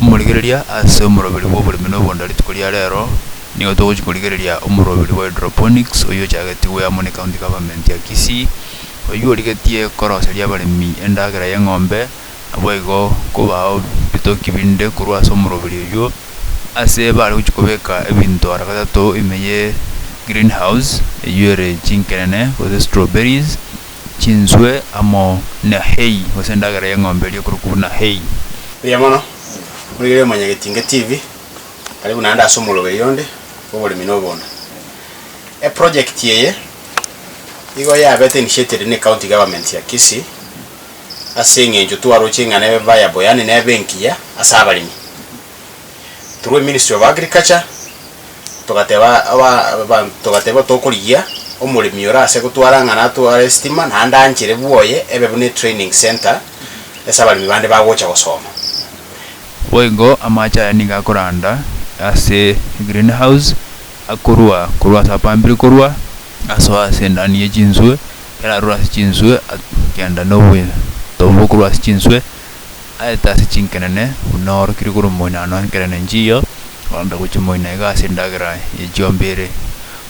Omorigereria ase omoroberi bw'oboremi na obondo rituko ria rero, nigo togochia korigereria omoroberi bwa hydroponics oyio ochagetie goeamwa ne County Government ya Kisii, oyio origetie koroseria abaremi endagera y'eng'ombe naboigo kobao bitoki binde korwa ase omoroberi oyio, ase bare gochia kobeka ebinto ara gatato ime ye green house eyio ere chinkerene gose strawberries, chinswe amo na hay gose endagera y'eng'ombe eria ekorokwa buna hay. Mbuya mono, Moigere Omonyagetinge TV, karibu naende ase omoroberi onde bw'oboremi na obondo. Eprojekti eye igo yabete initiated ne County Government ya Kisii. ase eng'encho twaroche ing'ana ebe mbaya boyani nebe engiya ase abaremi. Through ministry of agriculture togateba aba abanto togateba tokorigia omoremi ore ase gotwara ing'ana atware estima naende anchere bwoye ebe buna etraining centre ase abaremi bande bagocha gosoma. Boigo amache aya nigo akoranda ase egreen house akorwa korwa ase apampire korwa asoa ase endani ye chinswe. Kera arure ase chinswe agenda noboitobu bokorwa ase chinswe aete ase chinkenene buna orokire korwa moina ano enkenene nchiyo korenta gochia moina iga ase endagera ye chiombe ere.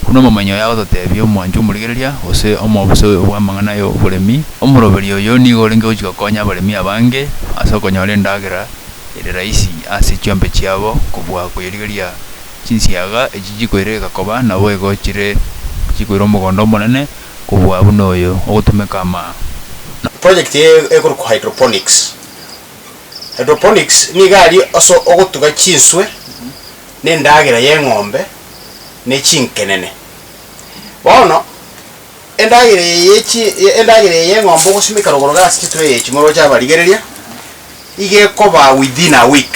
Buna omomanyi oye agototebia omwanche omorigereria gose omobisa oyo bw'amang'ana ya oboremi, omoroberia oyo nigo orenge gochia gokonya abaremi abange ase okonyora endagera ere rahisi ase chiombe chiabo kobua koyerigeria chinsiaga echi chikoireka koba naboigo chire chikoira omogondo omonene. kobua buna oyo ogotumeka amao, na. Project eye ekorokwa hydroponics. Hydroponics nigo aria ase ogotuga chinswe na endagera y'eng'ombe ne chinkenene. Bono endagera eye ye chi endagera eye y'eng'ombe ogosimeka rogorogo ase chitreyi echi moroche abarigereria, iga ekoba within a week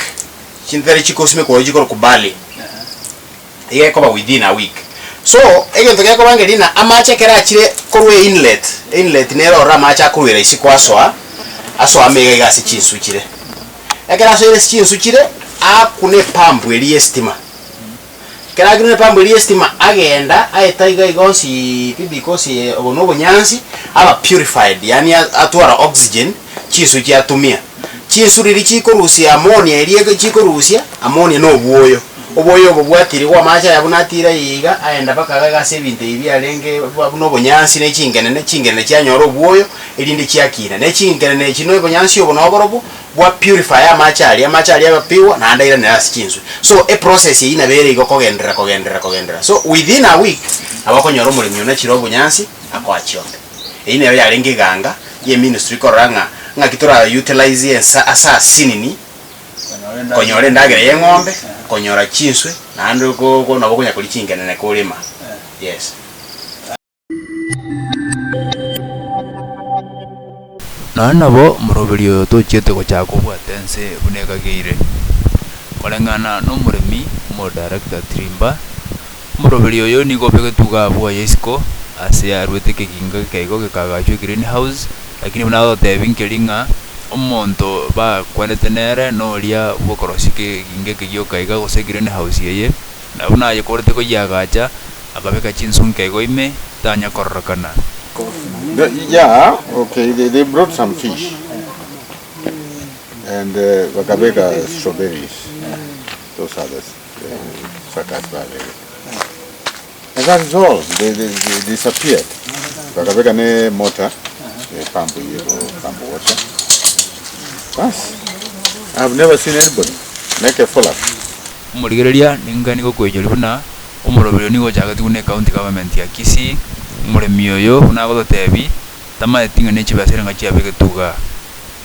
chintare chigosimekwa oyo chikorokwa barley. igekoba within a week so egento gekoba ngerie na amache ekero achire korwa e inlet, e inlet nere ororo amache akoruera isiko asoa asoa amo iga iga ase chinsu chire ekero asoire ase chinsu chire aakuna epampu eria ya estima ekero akinire epampu eria ya estima agenda aeta iga iga onsi pibi gose obo na obonyansi aba purified yaani atwara oxygen. chinswe chiatumia, chinswe riria chikorusia amonia eria chikorusia amonia na obwoyo, obwoyo obo bwatiirigwa amache aya buna atiire aye iga, aenda mpaka iga ase ebinto ebi biarenge buna obonyansi ne chingenene, chingenene chianyora obwoyo, erinde chiakina. Ne chingenene echi na obonyansi obo na oborobwo bwa purifaya amache aria, amache aria agapigwa naende airanera ase chinswe. So eprocess eyio nabo ere igo kogenderera kogenderera kogenderera. So within a week nabo okonyora omoremi oyio nachire obonyansi akoa chionda. Eyio nero yarenge eganga ye ministry korora ng'a ng'aki tora utilize ensa ase asinini konyora endagera ye eng'ombe konyora chinswe naende ko ko nabo okonya koria chingenene korema yes. Nonya nabo omoroberi oyo tochiete gochaka kobwata ense buna ekageire, koreng'ana nomoremi, omodirector, Trimba. Omoroberi oyo nigo obe getuga abwo aye isiko, aase arwete ekegingo ekeigo gekagachwa egreen house, lakini buna agotebi nkeri ng'a omonto bakwanete nere noria bw'okorosia ekegingo eke gioka iga gose egreen house eye, na buna ayekorete koyiagacha, akabeka chinsu nkeigo ime, tanya kororokana. Omorigereria ning'ani gokoenyorigwa buna omoroberi oyo nigo ochagetigwe ne county government ya Kisii, omoremi oyo buna agototebi, tamaeti ng'a ne chibesa ere ng'a chiabegetwe igaa.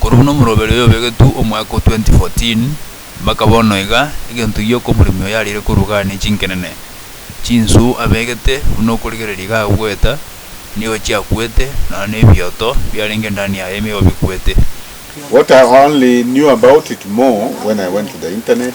Korwa buna omoroberi oyo obegetwe omwaka o 2014 mpaka bono iga, egento gioka omoremi oyo arire korugania chinkenene, chinswe abegete buna okorigereria iga agoeta, nigo chiakwete, nonya nebioto biarenge ndani yaye nigo bikwete. What I only knew about it more when I went to the internet.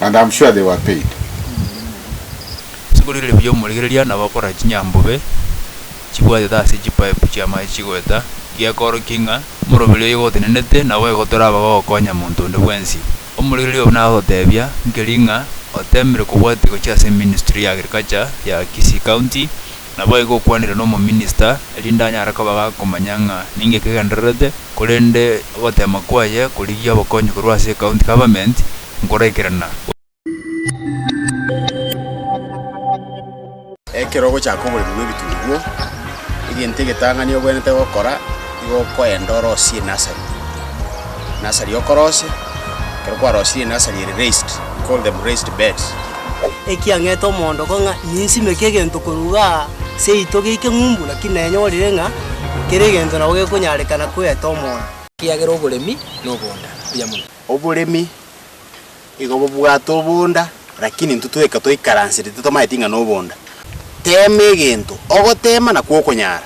and am sure they were paid. Ase korigereria buya omorigereria, nabo akorora chinyambobe chibwatete ase chipaipu chi'amache chigoeta, gekoorokia ng'a morobiri oyogo otenenete, nabo igo toraba gokonya monto onde bwensi. Omorigereria obo nagototebia nkeri ng'a oteemire kobwatia gochia ase ministry ya agriculture ya Kisii County, Naboigo okwanire nomominista, erinde anyare koba gakomanya ng'a ninki kegendererete, korende ogoteema kwaye korigia obokonyi korwa ase ecounty government nkoraikerana. Ekero ogochaka oboremi bw'ebitunguo, egento egetang'ani obwenerete gokora nigo okoenda orosie enasari. Enasari okorose, ekero kwarosirie enasari ere raised, we call them raised beds. ekiang'ete omoondoko ng'a ninsimeke egento korwa iga seito geike ng'umbu, lakini nanyorire ng'a kera egento nabo gekonyarekana koeta omoyo. Ekiagera oboremi noboonda mbuya mono. Oboremi igo bobwate oboonda, lakini intwe toika toikaransete totamanyeti ng'a noboonda. Teema egento, ogotema nakwo okonyara.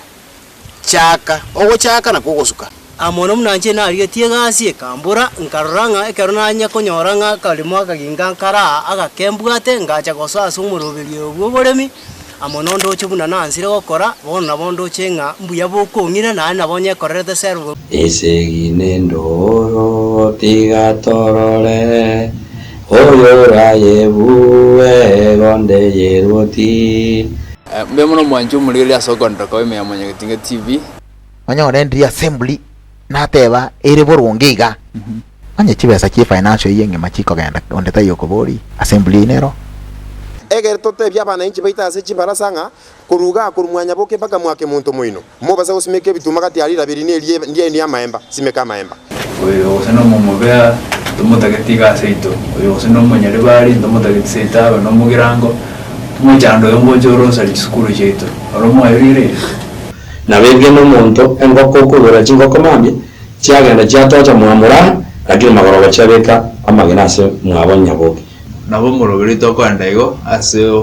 Chaaka, ogochaaka nakwo ogosuka. Aa mono buna inche narigetie egasi ekambora, nkarora ng'a ekero nanye konyora ng'a akaremo akaginka nkare aa agakembwate, ngacha gosoa ase omoroberio oyo bw'oboremi amo nondoche buna nansire gokora, bono nabo ndoche ng'a mbuya bokong'ira naende nabo nyekorerete serv. Esegi nendooro tiga torore, oyorayebue gonde yerwoti. Mbuya mono mwanche omorigereria ase okoonterera koba ime ya Mwanyagetinga TV. Onye orendirie assembly nateba ere boronge iga, onye chibesa chie financial eyio engima chikogenda onde taiyo okoboria, assembly eyio nero. Egere totebie abanainchi baito ase chibarasa ng'a korwa igaa korwa mwanyaboke mpaka mwake monto moino. Mobasa gosimeka ebitunwa gati ya rirabe riria erie ndiaino y'amaemba, simeka amaemba. Oyo gose nomo omobea, ntomotagete iga aseito, oyo gose nomo nyaribari, ntomotagete seito abe nomogirango, omochando oyo ngocha orosari chisukuru chiaito, oro mwayoireire? Nabo erio nomonto engoko okogora chingoko mambia, chiagenda chiatocha mwamorara, lakini magoroba chiabeka amagena ase mwabo nyaboke. Nabo omorobereito okoenda igo ase.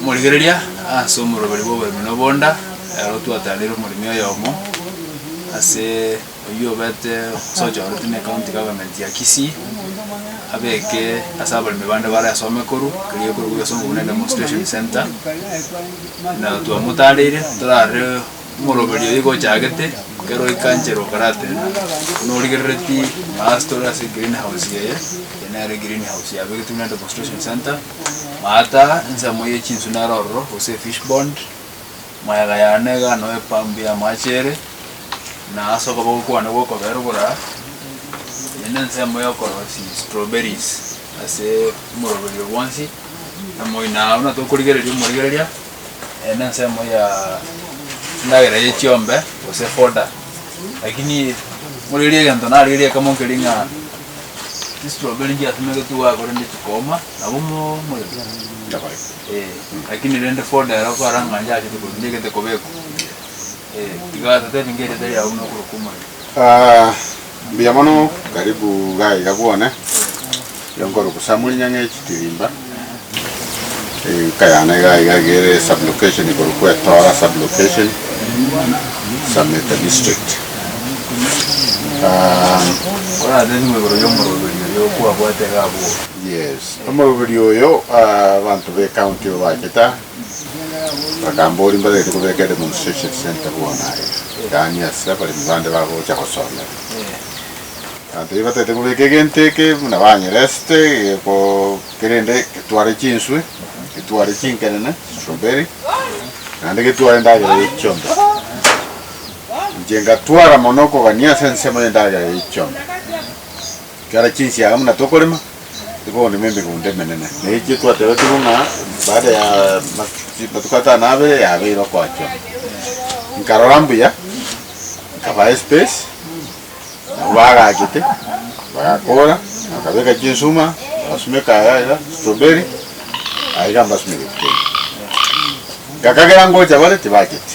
Omorigereria ase omoroberi bw'oboremi na obonda, ero twatanire omoremi oyomo ase oyio obete gose ochoretwe ne county government ya Kisii abeke ase abaremi bande bare asome korwa keria ekorokwa ase obonene demonstration centre na twamotarire torare Omoroberi oyo igo ochagete kera oikanchere okaratenda, buna origerereti maasete ore ase egreenhouse eye, eye nere egreenhouse yabegetwe buna demonstration centre, maata ensemo ye chinsu nere ororo gose efish bond, mayega yane iga noo epambu y'amache ere, na ase okoboko kwane gw'okobee ruguraka, eye nensemo y'okorosia estroberiz ase omoroberi oo bwonsi, na moino aa buna tokorigereria omorigereria. eh, nensemo ya endagera ye chiombe gose foda lakini morerie egento narerie ekemo nkeri ng'a chistroberi nchiasemegeti iga korende chikooma nabo mo morero Nyabae. eh, lakini rende foda ero kwara ng'a nchiachete korwa nchiagete kobekwa eh, tiga totebi nka erieta riabo nokorokwa omorero Ah, Mbuya mono, karibu gaiga bwone. Nigo nkorugusamuri nyang'e chitirimba. Enka yane gaiga egere sub-location igoro kw'Etora sub-location, Sameta district. Enka. Korase nigo igoro y'omoroberi oyo okwabwate iga abwo. Yes, omoroberi oyo abanto b'ecounty obacheta. Bakambori mbatagete kobeka edemonstration centre bono aya, yaani ase abaremi bande bagocha gosomera. Egento batagete kobeka egento eke buna banyeresete geko kerende getware chinswe, getware chinkerene, strawberry, naende getware endagera ye chiombe. Inche ngatwara mono okogania ase ensemo y'endagera ye chiombe. Ekero chinsiaga buna tokorema, Igo nimo emegunda emenene, na echio twatebetigwe ng'a baada ya amatuko atano na abere yabeire okoachwa. Nkarora mbuya, nkabaa espace, nabo bagachete, bagakora, bakabeka chinsuma, bagasumeka iga iga, strawberry, aiga mbasumeketie kende. Ngakagera ngocha bare tibacheti.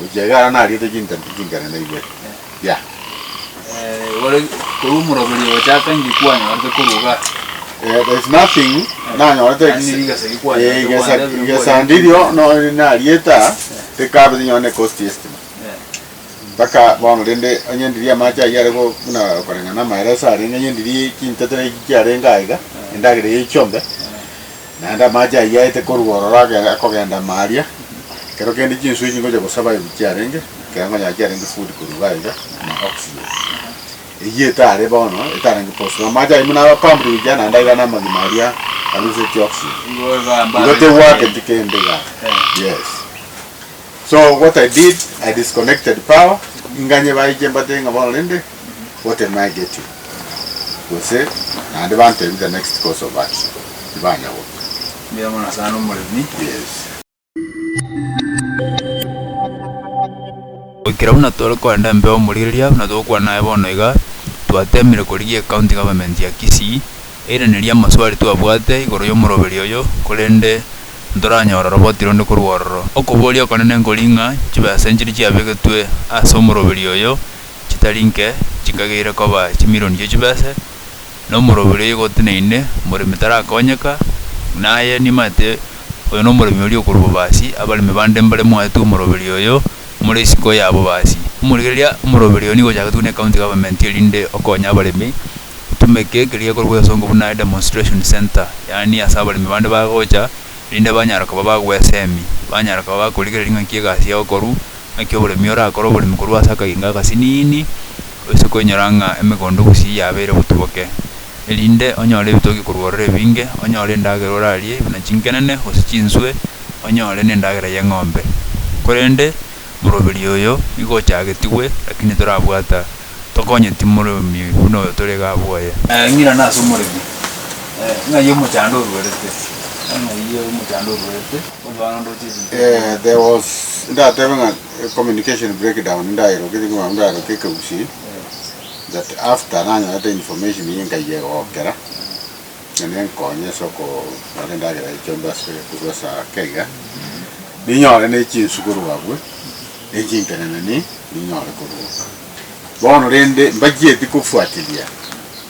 Gochia egara nariete chintambe chinkane na ibere. Yah. Eh, gore korwa omoroberio gochaka inche kwanyorete koruga. Eh, there is nothing nanyorete Ase ekini- rigesa gikwanyorete eh, igesa- kwandebire mbori igesa ndirio nkinye. no- narieta tikabete nonye ne cost estimate. Eh, Mpaka bono rende onye ndirie amache ayio are go- buna okoreng'ana amaere ase arenge, onye ndirie chintetera echi chiarenge aiga, endagera eyio echiombe, Naende amaache ayio aete korwa ororo akogenda ime aria, ekero kende chinswe echi ngocha gosaba aye chiarenge, ekero ngonya chiarenge food korwa iga aiga, na oxygen eyio etare bono, etarenge posible. Amaache ayio buna aba pumped gochia naende aiga na amagima aria aruse chi oxygen. Igo tegwaketi kende igaa, yes. So what I did, I disconnected power, inganye baye chimbata iga bono rende. otemegeti, gose naende bantebi the next course of action, tibanya goika. Mbuya mono sana omoremi. Yes. Goikera buna tore korenda embe ya omorigereria buna togokwana aye bono iga, twateemire korigia ecounty government ya Kisii eiranerie amaswali twabwate igoro y'omoroberi oyo korende ntoranyore oroboti ronde korwa ororo. Okoboria okonene nkori ng'a chibesa nchiria chiabegetwe ase omoroberi oyo, chitari nke chinkageire koba chimirioni chia chibese, na omoroi oria oigoteneine, omoremi tarakonyeka, buna aye nimanyete oyo nomoremi oria okorwa bobasi, abaremi bande mbare moetwe omoroberi oyo, more isiko ya bobasi. Omorigereria, omoroberi oyo nigo ochagetwe ne county government erinde okonye abaremi, otumeke ekeria gekorokwa egesongo buna demonstration centre, yaani ase abaremi bande bagocha, erinde banyare koba bagwesemi, banyare koba bakorigereria ng'aki egasi yao ekorwa. Naki oboremi orakore oboremi korwa ase akagingo agasiniini, oise koinyora ng'a emegondo gusii yabeire botuboke, erinde onyore ebitogi korwa orore ebinge, onyore endagera orarie, buna chinkenene, gose chinswe, onyore na endagera y'eng'ombe. Korende moroberi oyo nigo ochagetigwe, rakini torabwata, tokonyeti moremi buna oyo tore iga abwoye. Ng'ina nase omoremi, ng'ai omochando oruerete? Ng'ai omochando oruerete? There was ndatebe ng'a communication breakdown ndaeroketie ng'a banto ndaeroke ekegusii that after nanyorete information eye nkayia egokera ng'a nenkonye ase okobara endagera ya chombe ase korwa ase ake iga ninyore ne chinsu korwa abwo ne chinteneneni ninyore koruboka. Bono rende mbachieti kofuatilia.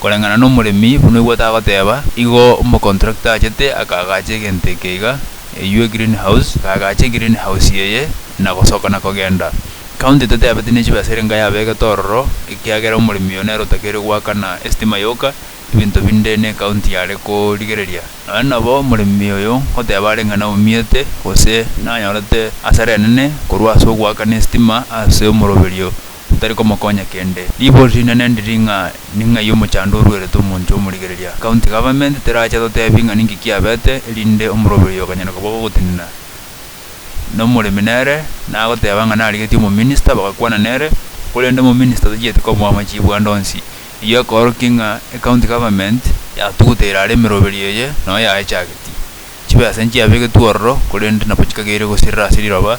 Koreng'ana nomoremi, buna oigwete agoteeba, igo omocontractor achete akaagacha egento eke iga, eywo egreen house, akaagacha egreen house eye, na gosoka na kogenda. County toteebeti ne chibesa ere enka yabeegete ororo, ekiagera omoremi oyo nere otakeire goakana estima yoka, ebinto binde ne county yare korigereria. Nonya nabo omoremi oyo ngoteeba areng'ana omiete, gose nanyorete asara enene korwa ase ogoakana estima ase omoroberio, tari komokonya kende. Ribori rinene ndiri ng'a ni ng'ai omochando oruerete omonche omorigereria. County Government terache totebi ng'a ninki kiabete erinde omoroberi oyo okanyare kobua gogotenena nomoremi nere nagoteba ng'a narigetie omominister bagakwana nere korende omominister tochieti komoa amachibwa ande onsi. Eyio ekororokia ng'a ecounty government yatuguta ere are emeroberi eye noyo yaechagetie. Chibesa nchiabegetwe ororo korende nabo chikageire gosirira ase riroba.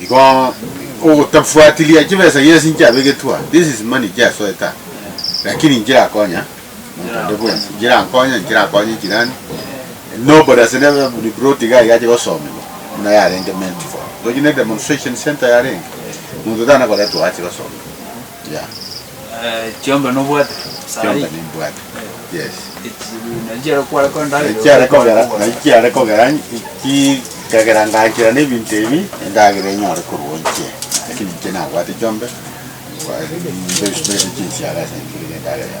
Igo ogotafuatilia chibesa yes nchiabegetwe aa, this is money nchiasoete aa, lakini nchirakonya monto onde bwensi, nchirankonya, nchirakonye jirani, nobody ase nebe ni brought iga iga ache gosomiwa buna yarenge Mount Ford. Tochire ne demonstration centre yarenge, monto tana koretwa oo ache gosomiwa. Yeah. Eh, chiombe nobwate sahi. Chiombe nimbwate. Eh. Yes. Nachiare kwara kwa ndare. Nachiare kogera, nachiare kogera ki kagera ngachira ne bintu ebi endagera enyore kurunche. Lakini nche nabwate chiombe. Kwa ndio ndio chinsiara sentire ndagera.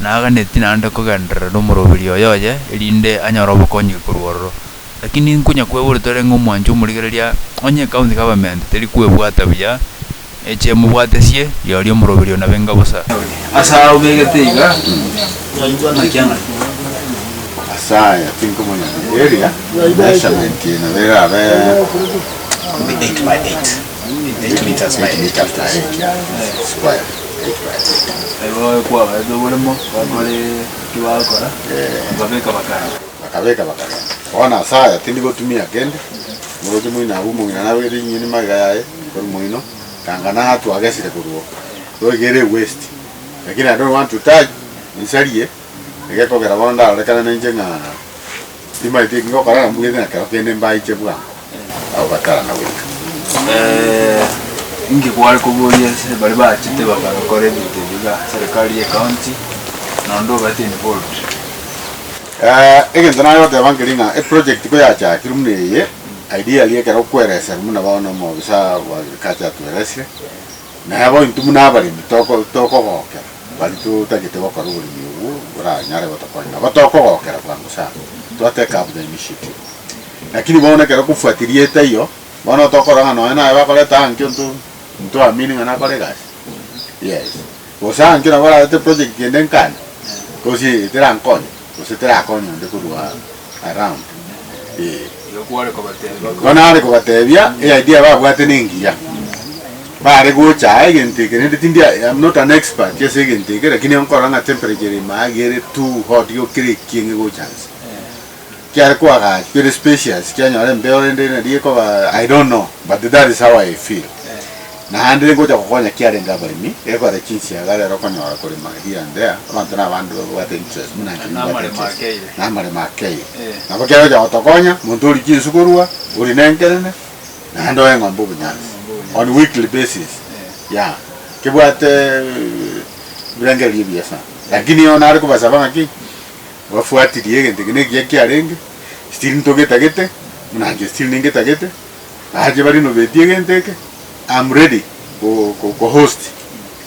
Naaganetie naende kogenderera nomoroberi oye oye, erinde anyore obokonyiki korwa ororo. Lakini inkonya kwebori torenge omwanche omorigereria, onye ekaunti government teri kwebwata buya, eche emobwatesie, rirorio omoroberi oo nabe enga bosa. Ase aya obegete iga, nakia ng'a. Ase aya tinkomanya rigereria, measurement eye nabo erabe eight by eight. Bakabeka bakagenda. Bono as'aya tindi gotumia kende, omorokia moino abu omong'ina nabegete chinyeni magega yaye igoro moino, tanga naha twagesire korwa oo, toigere ewest, lakini I don't want to touch, ninsarie, egekogera bono ndarorekana nainche ng'a. Timaeti eki ngokora na mbugete na kero kende mbaiche bwango abo batarana goika. Inki kware koboria ase baria bachete baka gokora ebinto ebi iga serikali ye county naende obete involved? Egento nare goteba nkeri ng'a eproject ko yachakirwe buna eye, ideally ekero okwereserwa buna bono na omobisa bwa agriculture atueresire, Nabo intwe buna abaremi toko- tokogokera baria totagete gokora oboremi obwo boranyare gotokonya. Nabo tokogokera bwango sana, twateka buna initiative. Lakini bono ekero okofuatiria etaiyo, bono onto okorora ng'a nonya naye bakorete ang'e enkio nto ntoamini ng'a nakore egasi, yes. Gose ang'e enkio nabo bararete eprojegti ende nkane, gose eye terankonye. Gose terakonye onde korwa around ee. Igo kware kobatebia bakore. Bono are kobatebia eidea babwate nengiya, bare gocha aa egento eke rende tindi I am not an expert ase egento eke lakini nkorora ng'a temperature ere ime iga ere too hot igo kera ekieng'e egocha inse. Kiare koagachwa ere spacious kianyora embeo rende nari ekoba I don't know but that is how I feel. Naende ngocha gokonya kiarenge abaremi egekora chinsiaga rero okonyora korema here and there abanto na abande babwate interest buna inche nibwate interest na amaremo akeire. Nabo kegocha gotokonya monto ori chinsu korua, ori ne enkerene naende oye eng'ombe obonyansi on weekly basis yeah kebwate ebirengererio ebiya sana lakini eye bono are kobasaba ng'a ki? Bafuatilie egento eke nekiya kiarenge still ntogetagete buna inche still ningetagete. Ache baria nobetie egento eke, I'm ready go ko host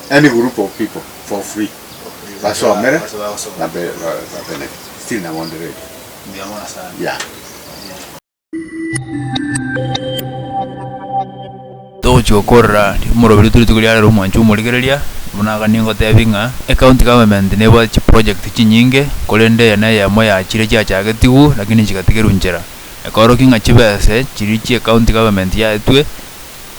any group of people for free basomere ba benefit still nabo ndi ready yeah. Togochia okorora rimoruabire twe rituko riarero omwancho omorigereria buna iga nigo otebie ng'a ecounty government nebwate chiproject chinyinge korende eye neyemo yachire chiachagetigwe lakini chigatigerwa nchera. Ekorokio ng'a chibese chiria chia county government yaetwe,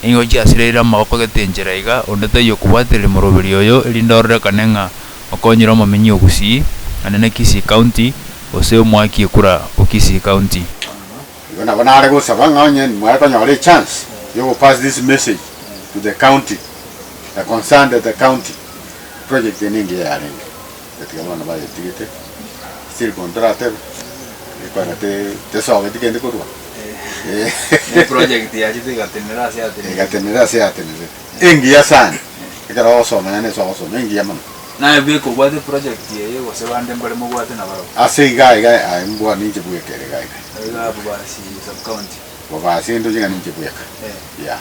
nigo chiasireire amaboko gete enchera iga, onde taiyo okobwatereri moroberio oyo, erinde ororekane ng'a okonyire omominyi o Gusii, naende ne Kisii county, gose omwaki ekura o Kisii county. Igo nabo nare gosaba ng'a onye nimware konyora echance yogo pass this message to the county, the concerned the county, project eye nigo yarenge. Gatiga bono bayetigete, still bono toratebe, ekwana te tesogeti kende korwa Ni project yachete igatenera ase yatenerete. Igatenera ase yatenerete. Engiya sana. Ekero ogosoma yane ase ogosoma engiya mono. Naye bwe kobwate project eye gose bande mbare mobwate na barabwo. Ase iga iga aye mbwa ninche bweka ere iga iga. Iga abwo basi sub county. Bobasi ndoche ng'a ninche bweka. Yeah.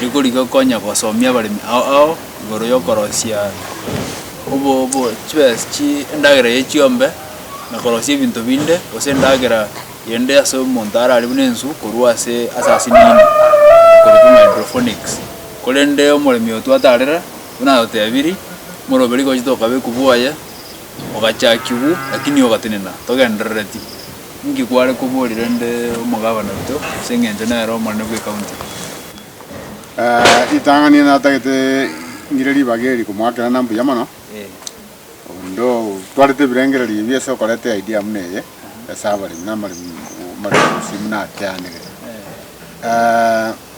Rigorigia okonya gosomia abaremi ao ao igoro y'okorosia obo obo chibes chi endagera ye chiombe, na korosia ebinto binde, gose endagera yende ase omonto arare buna enswe korwa ase ase ase niini ekorokwa ng'a hydrophonics. Korende omoremi oyo twatarera buna agotebirie, more obe rigochi tokabekwa bwoye, ogachakigwa lakini ogatenena togenderereti. Inki kware koborire nde omogabana oito ase engencho nere omonene bw'ecounty? Ritang'ani ere natagete ngire ribaga eri komoakerana mbuya mono, onde otwarete ebirengererio ebio ase okoreta idea buna eye ase abaremi na amaremi gose buna ateanegete.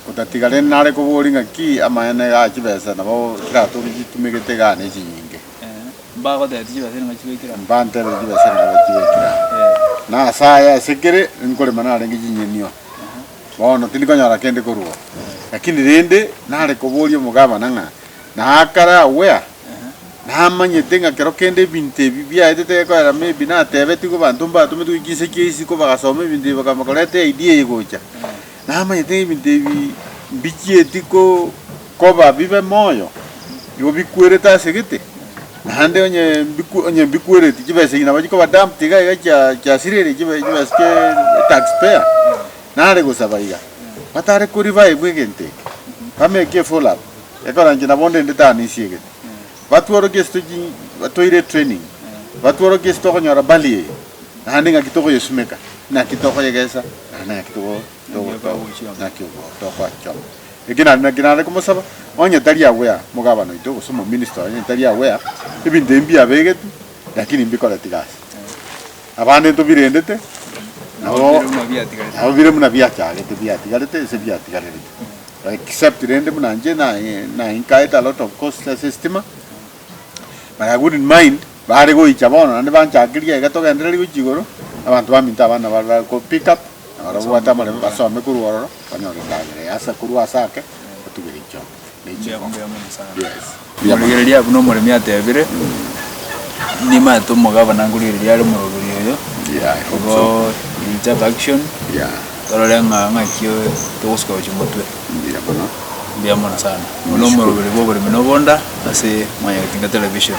Otatiga rende nare koboria ng'aki amaene iga achibesa nabo chiratogia chitumegete igaa ne chinyinge. Mbagotebetie chibesa nigo chigoikire aa. Mbantebetie chibesa nigo chigoikire aa. Na ase aya ase kere nkorema narenge chinyenio, bono tindikonyora kende korwa oo. Lakini rende nare koboria omogabana ng'a, Naakare agwo aa, namanyete ng'a kero kende ebinto ebi biaete tegekorera maybe natebetigwe abanto mbatometiwe chinse chia isiko bagasoma ebinto ebi bakamba koreta eidea eye gocha. Namanyete ebinto ebi mbichieti koba bibe moyo, nigo bikwerete ase egete, naende onye onye mbikwereti chibesa echi nabo chikoba dumped iga iga chia chiasireria chibe chibesa chie taxpayer. Nare gosaba iga, batare koribaebwa egento eke, ba make a follow up, ekero inche nabo ndende tanisie egete. Batworokie ase toji batoire training, batworokie ase tokonyora bali eye, naende ng'aki tokoyesimeka, naki tokoyegesa, naende ng'aki togo togo togo naki ogo tokoachoma. Eki naende naki nare komosaba, onye tari aware mogabana oito gose omominista oye onye tari aware, ebinto ebi mbiabegetwe, lakini mbikoreti gasi. Abande ntobirendete, nabo nabo bire buna biachagete biatigarete ase biatigarerete. Except rende buna inche na incurred a lot of costs ase estima, but I wouldn't mind baare goicha bono naende banchakerie iga togendereri goichi igoro, abanto baminto abana bare bare ko pick up na baria babwate amarebe basome korwa ororo, banyore endagera eye ase korwa ase ake, batugere echiombe ne chingoko. Yes. Rigereria abwo nomoremi atebire, Nimanyete omogabana nkorigereria are omoroberio oyo, igo richa to action torore ng'a ng'aki togosuka gochia omotwe. Mbuya mono sana. Oyo nomoroberio bw'oboremi na obonda ase Mwanyagitinga Television.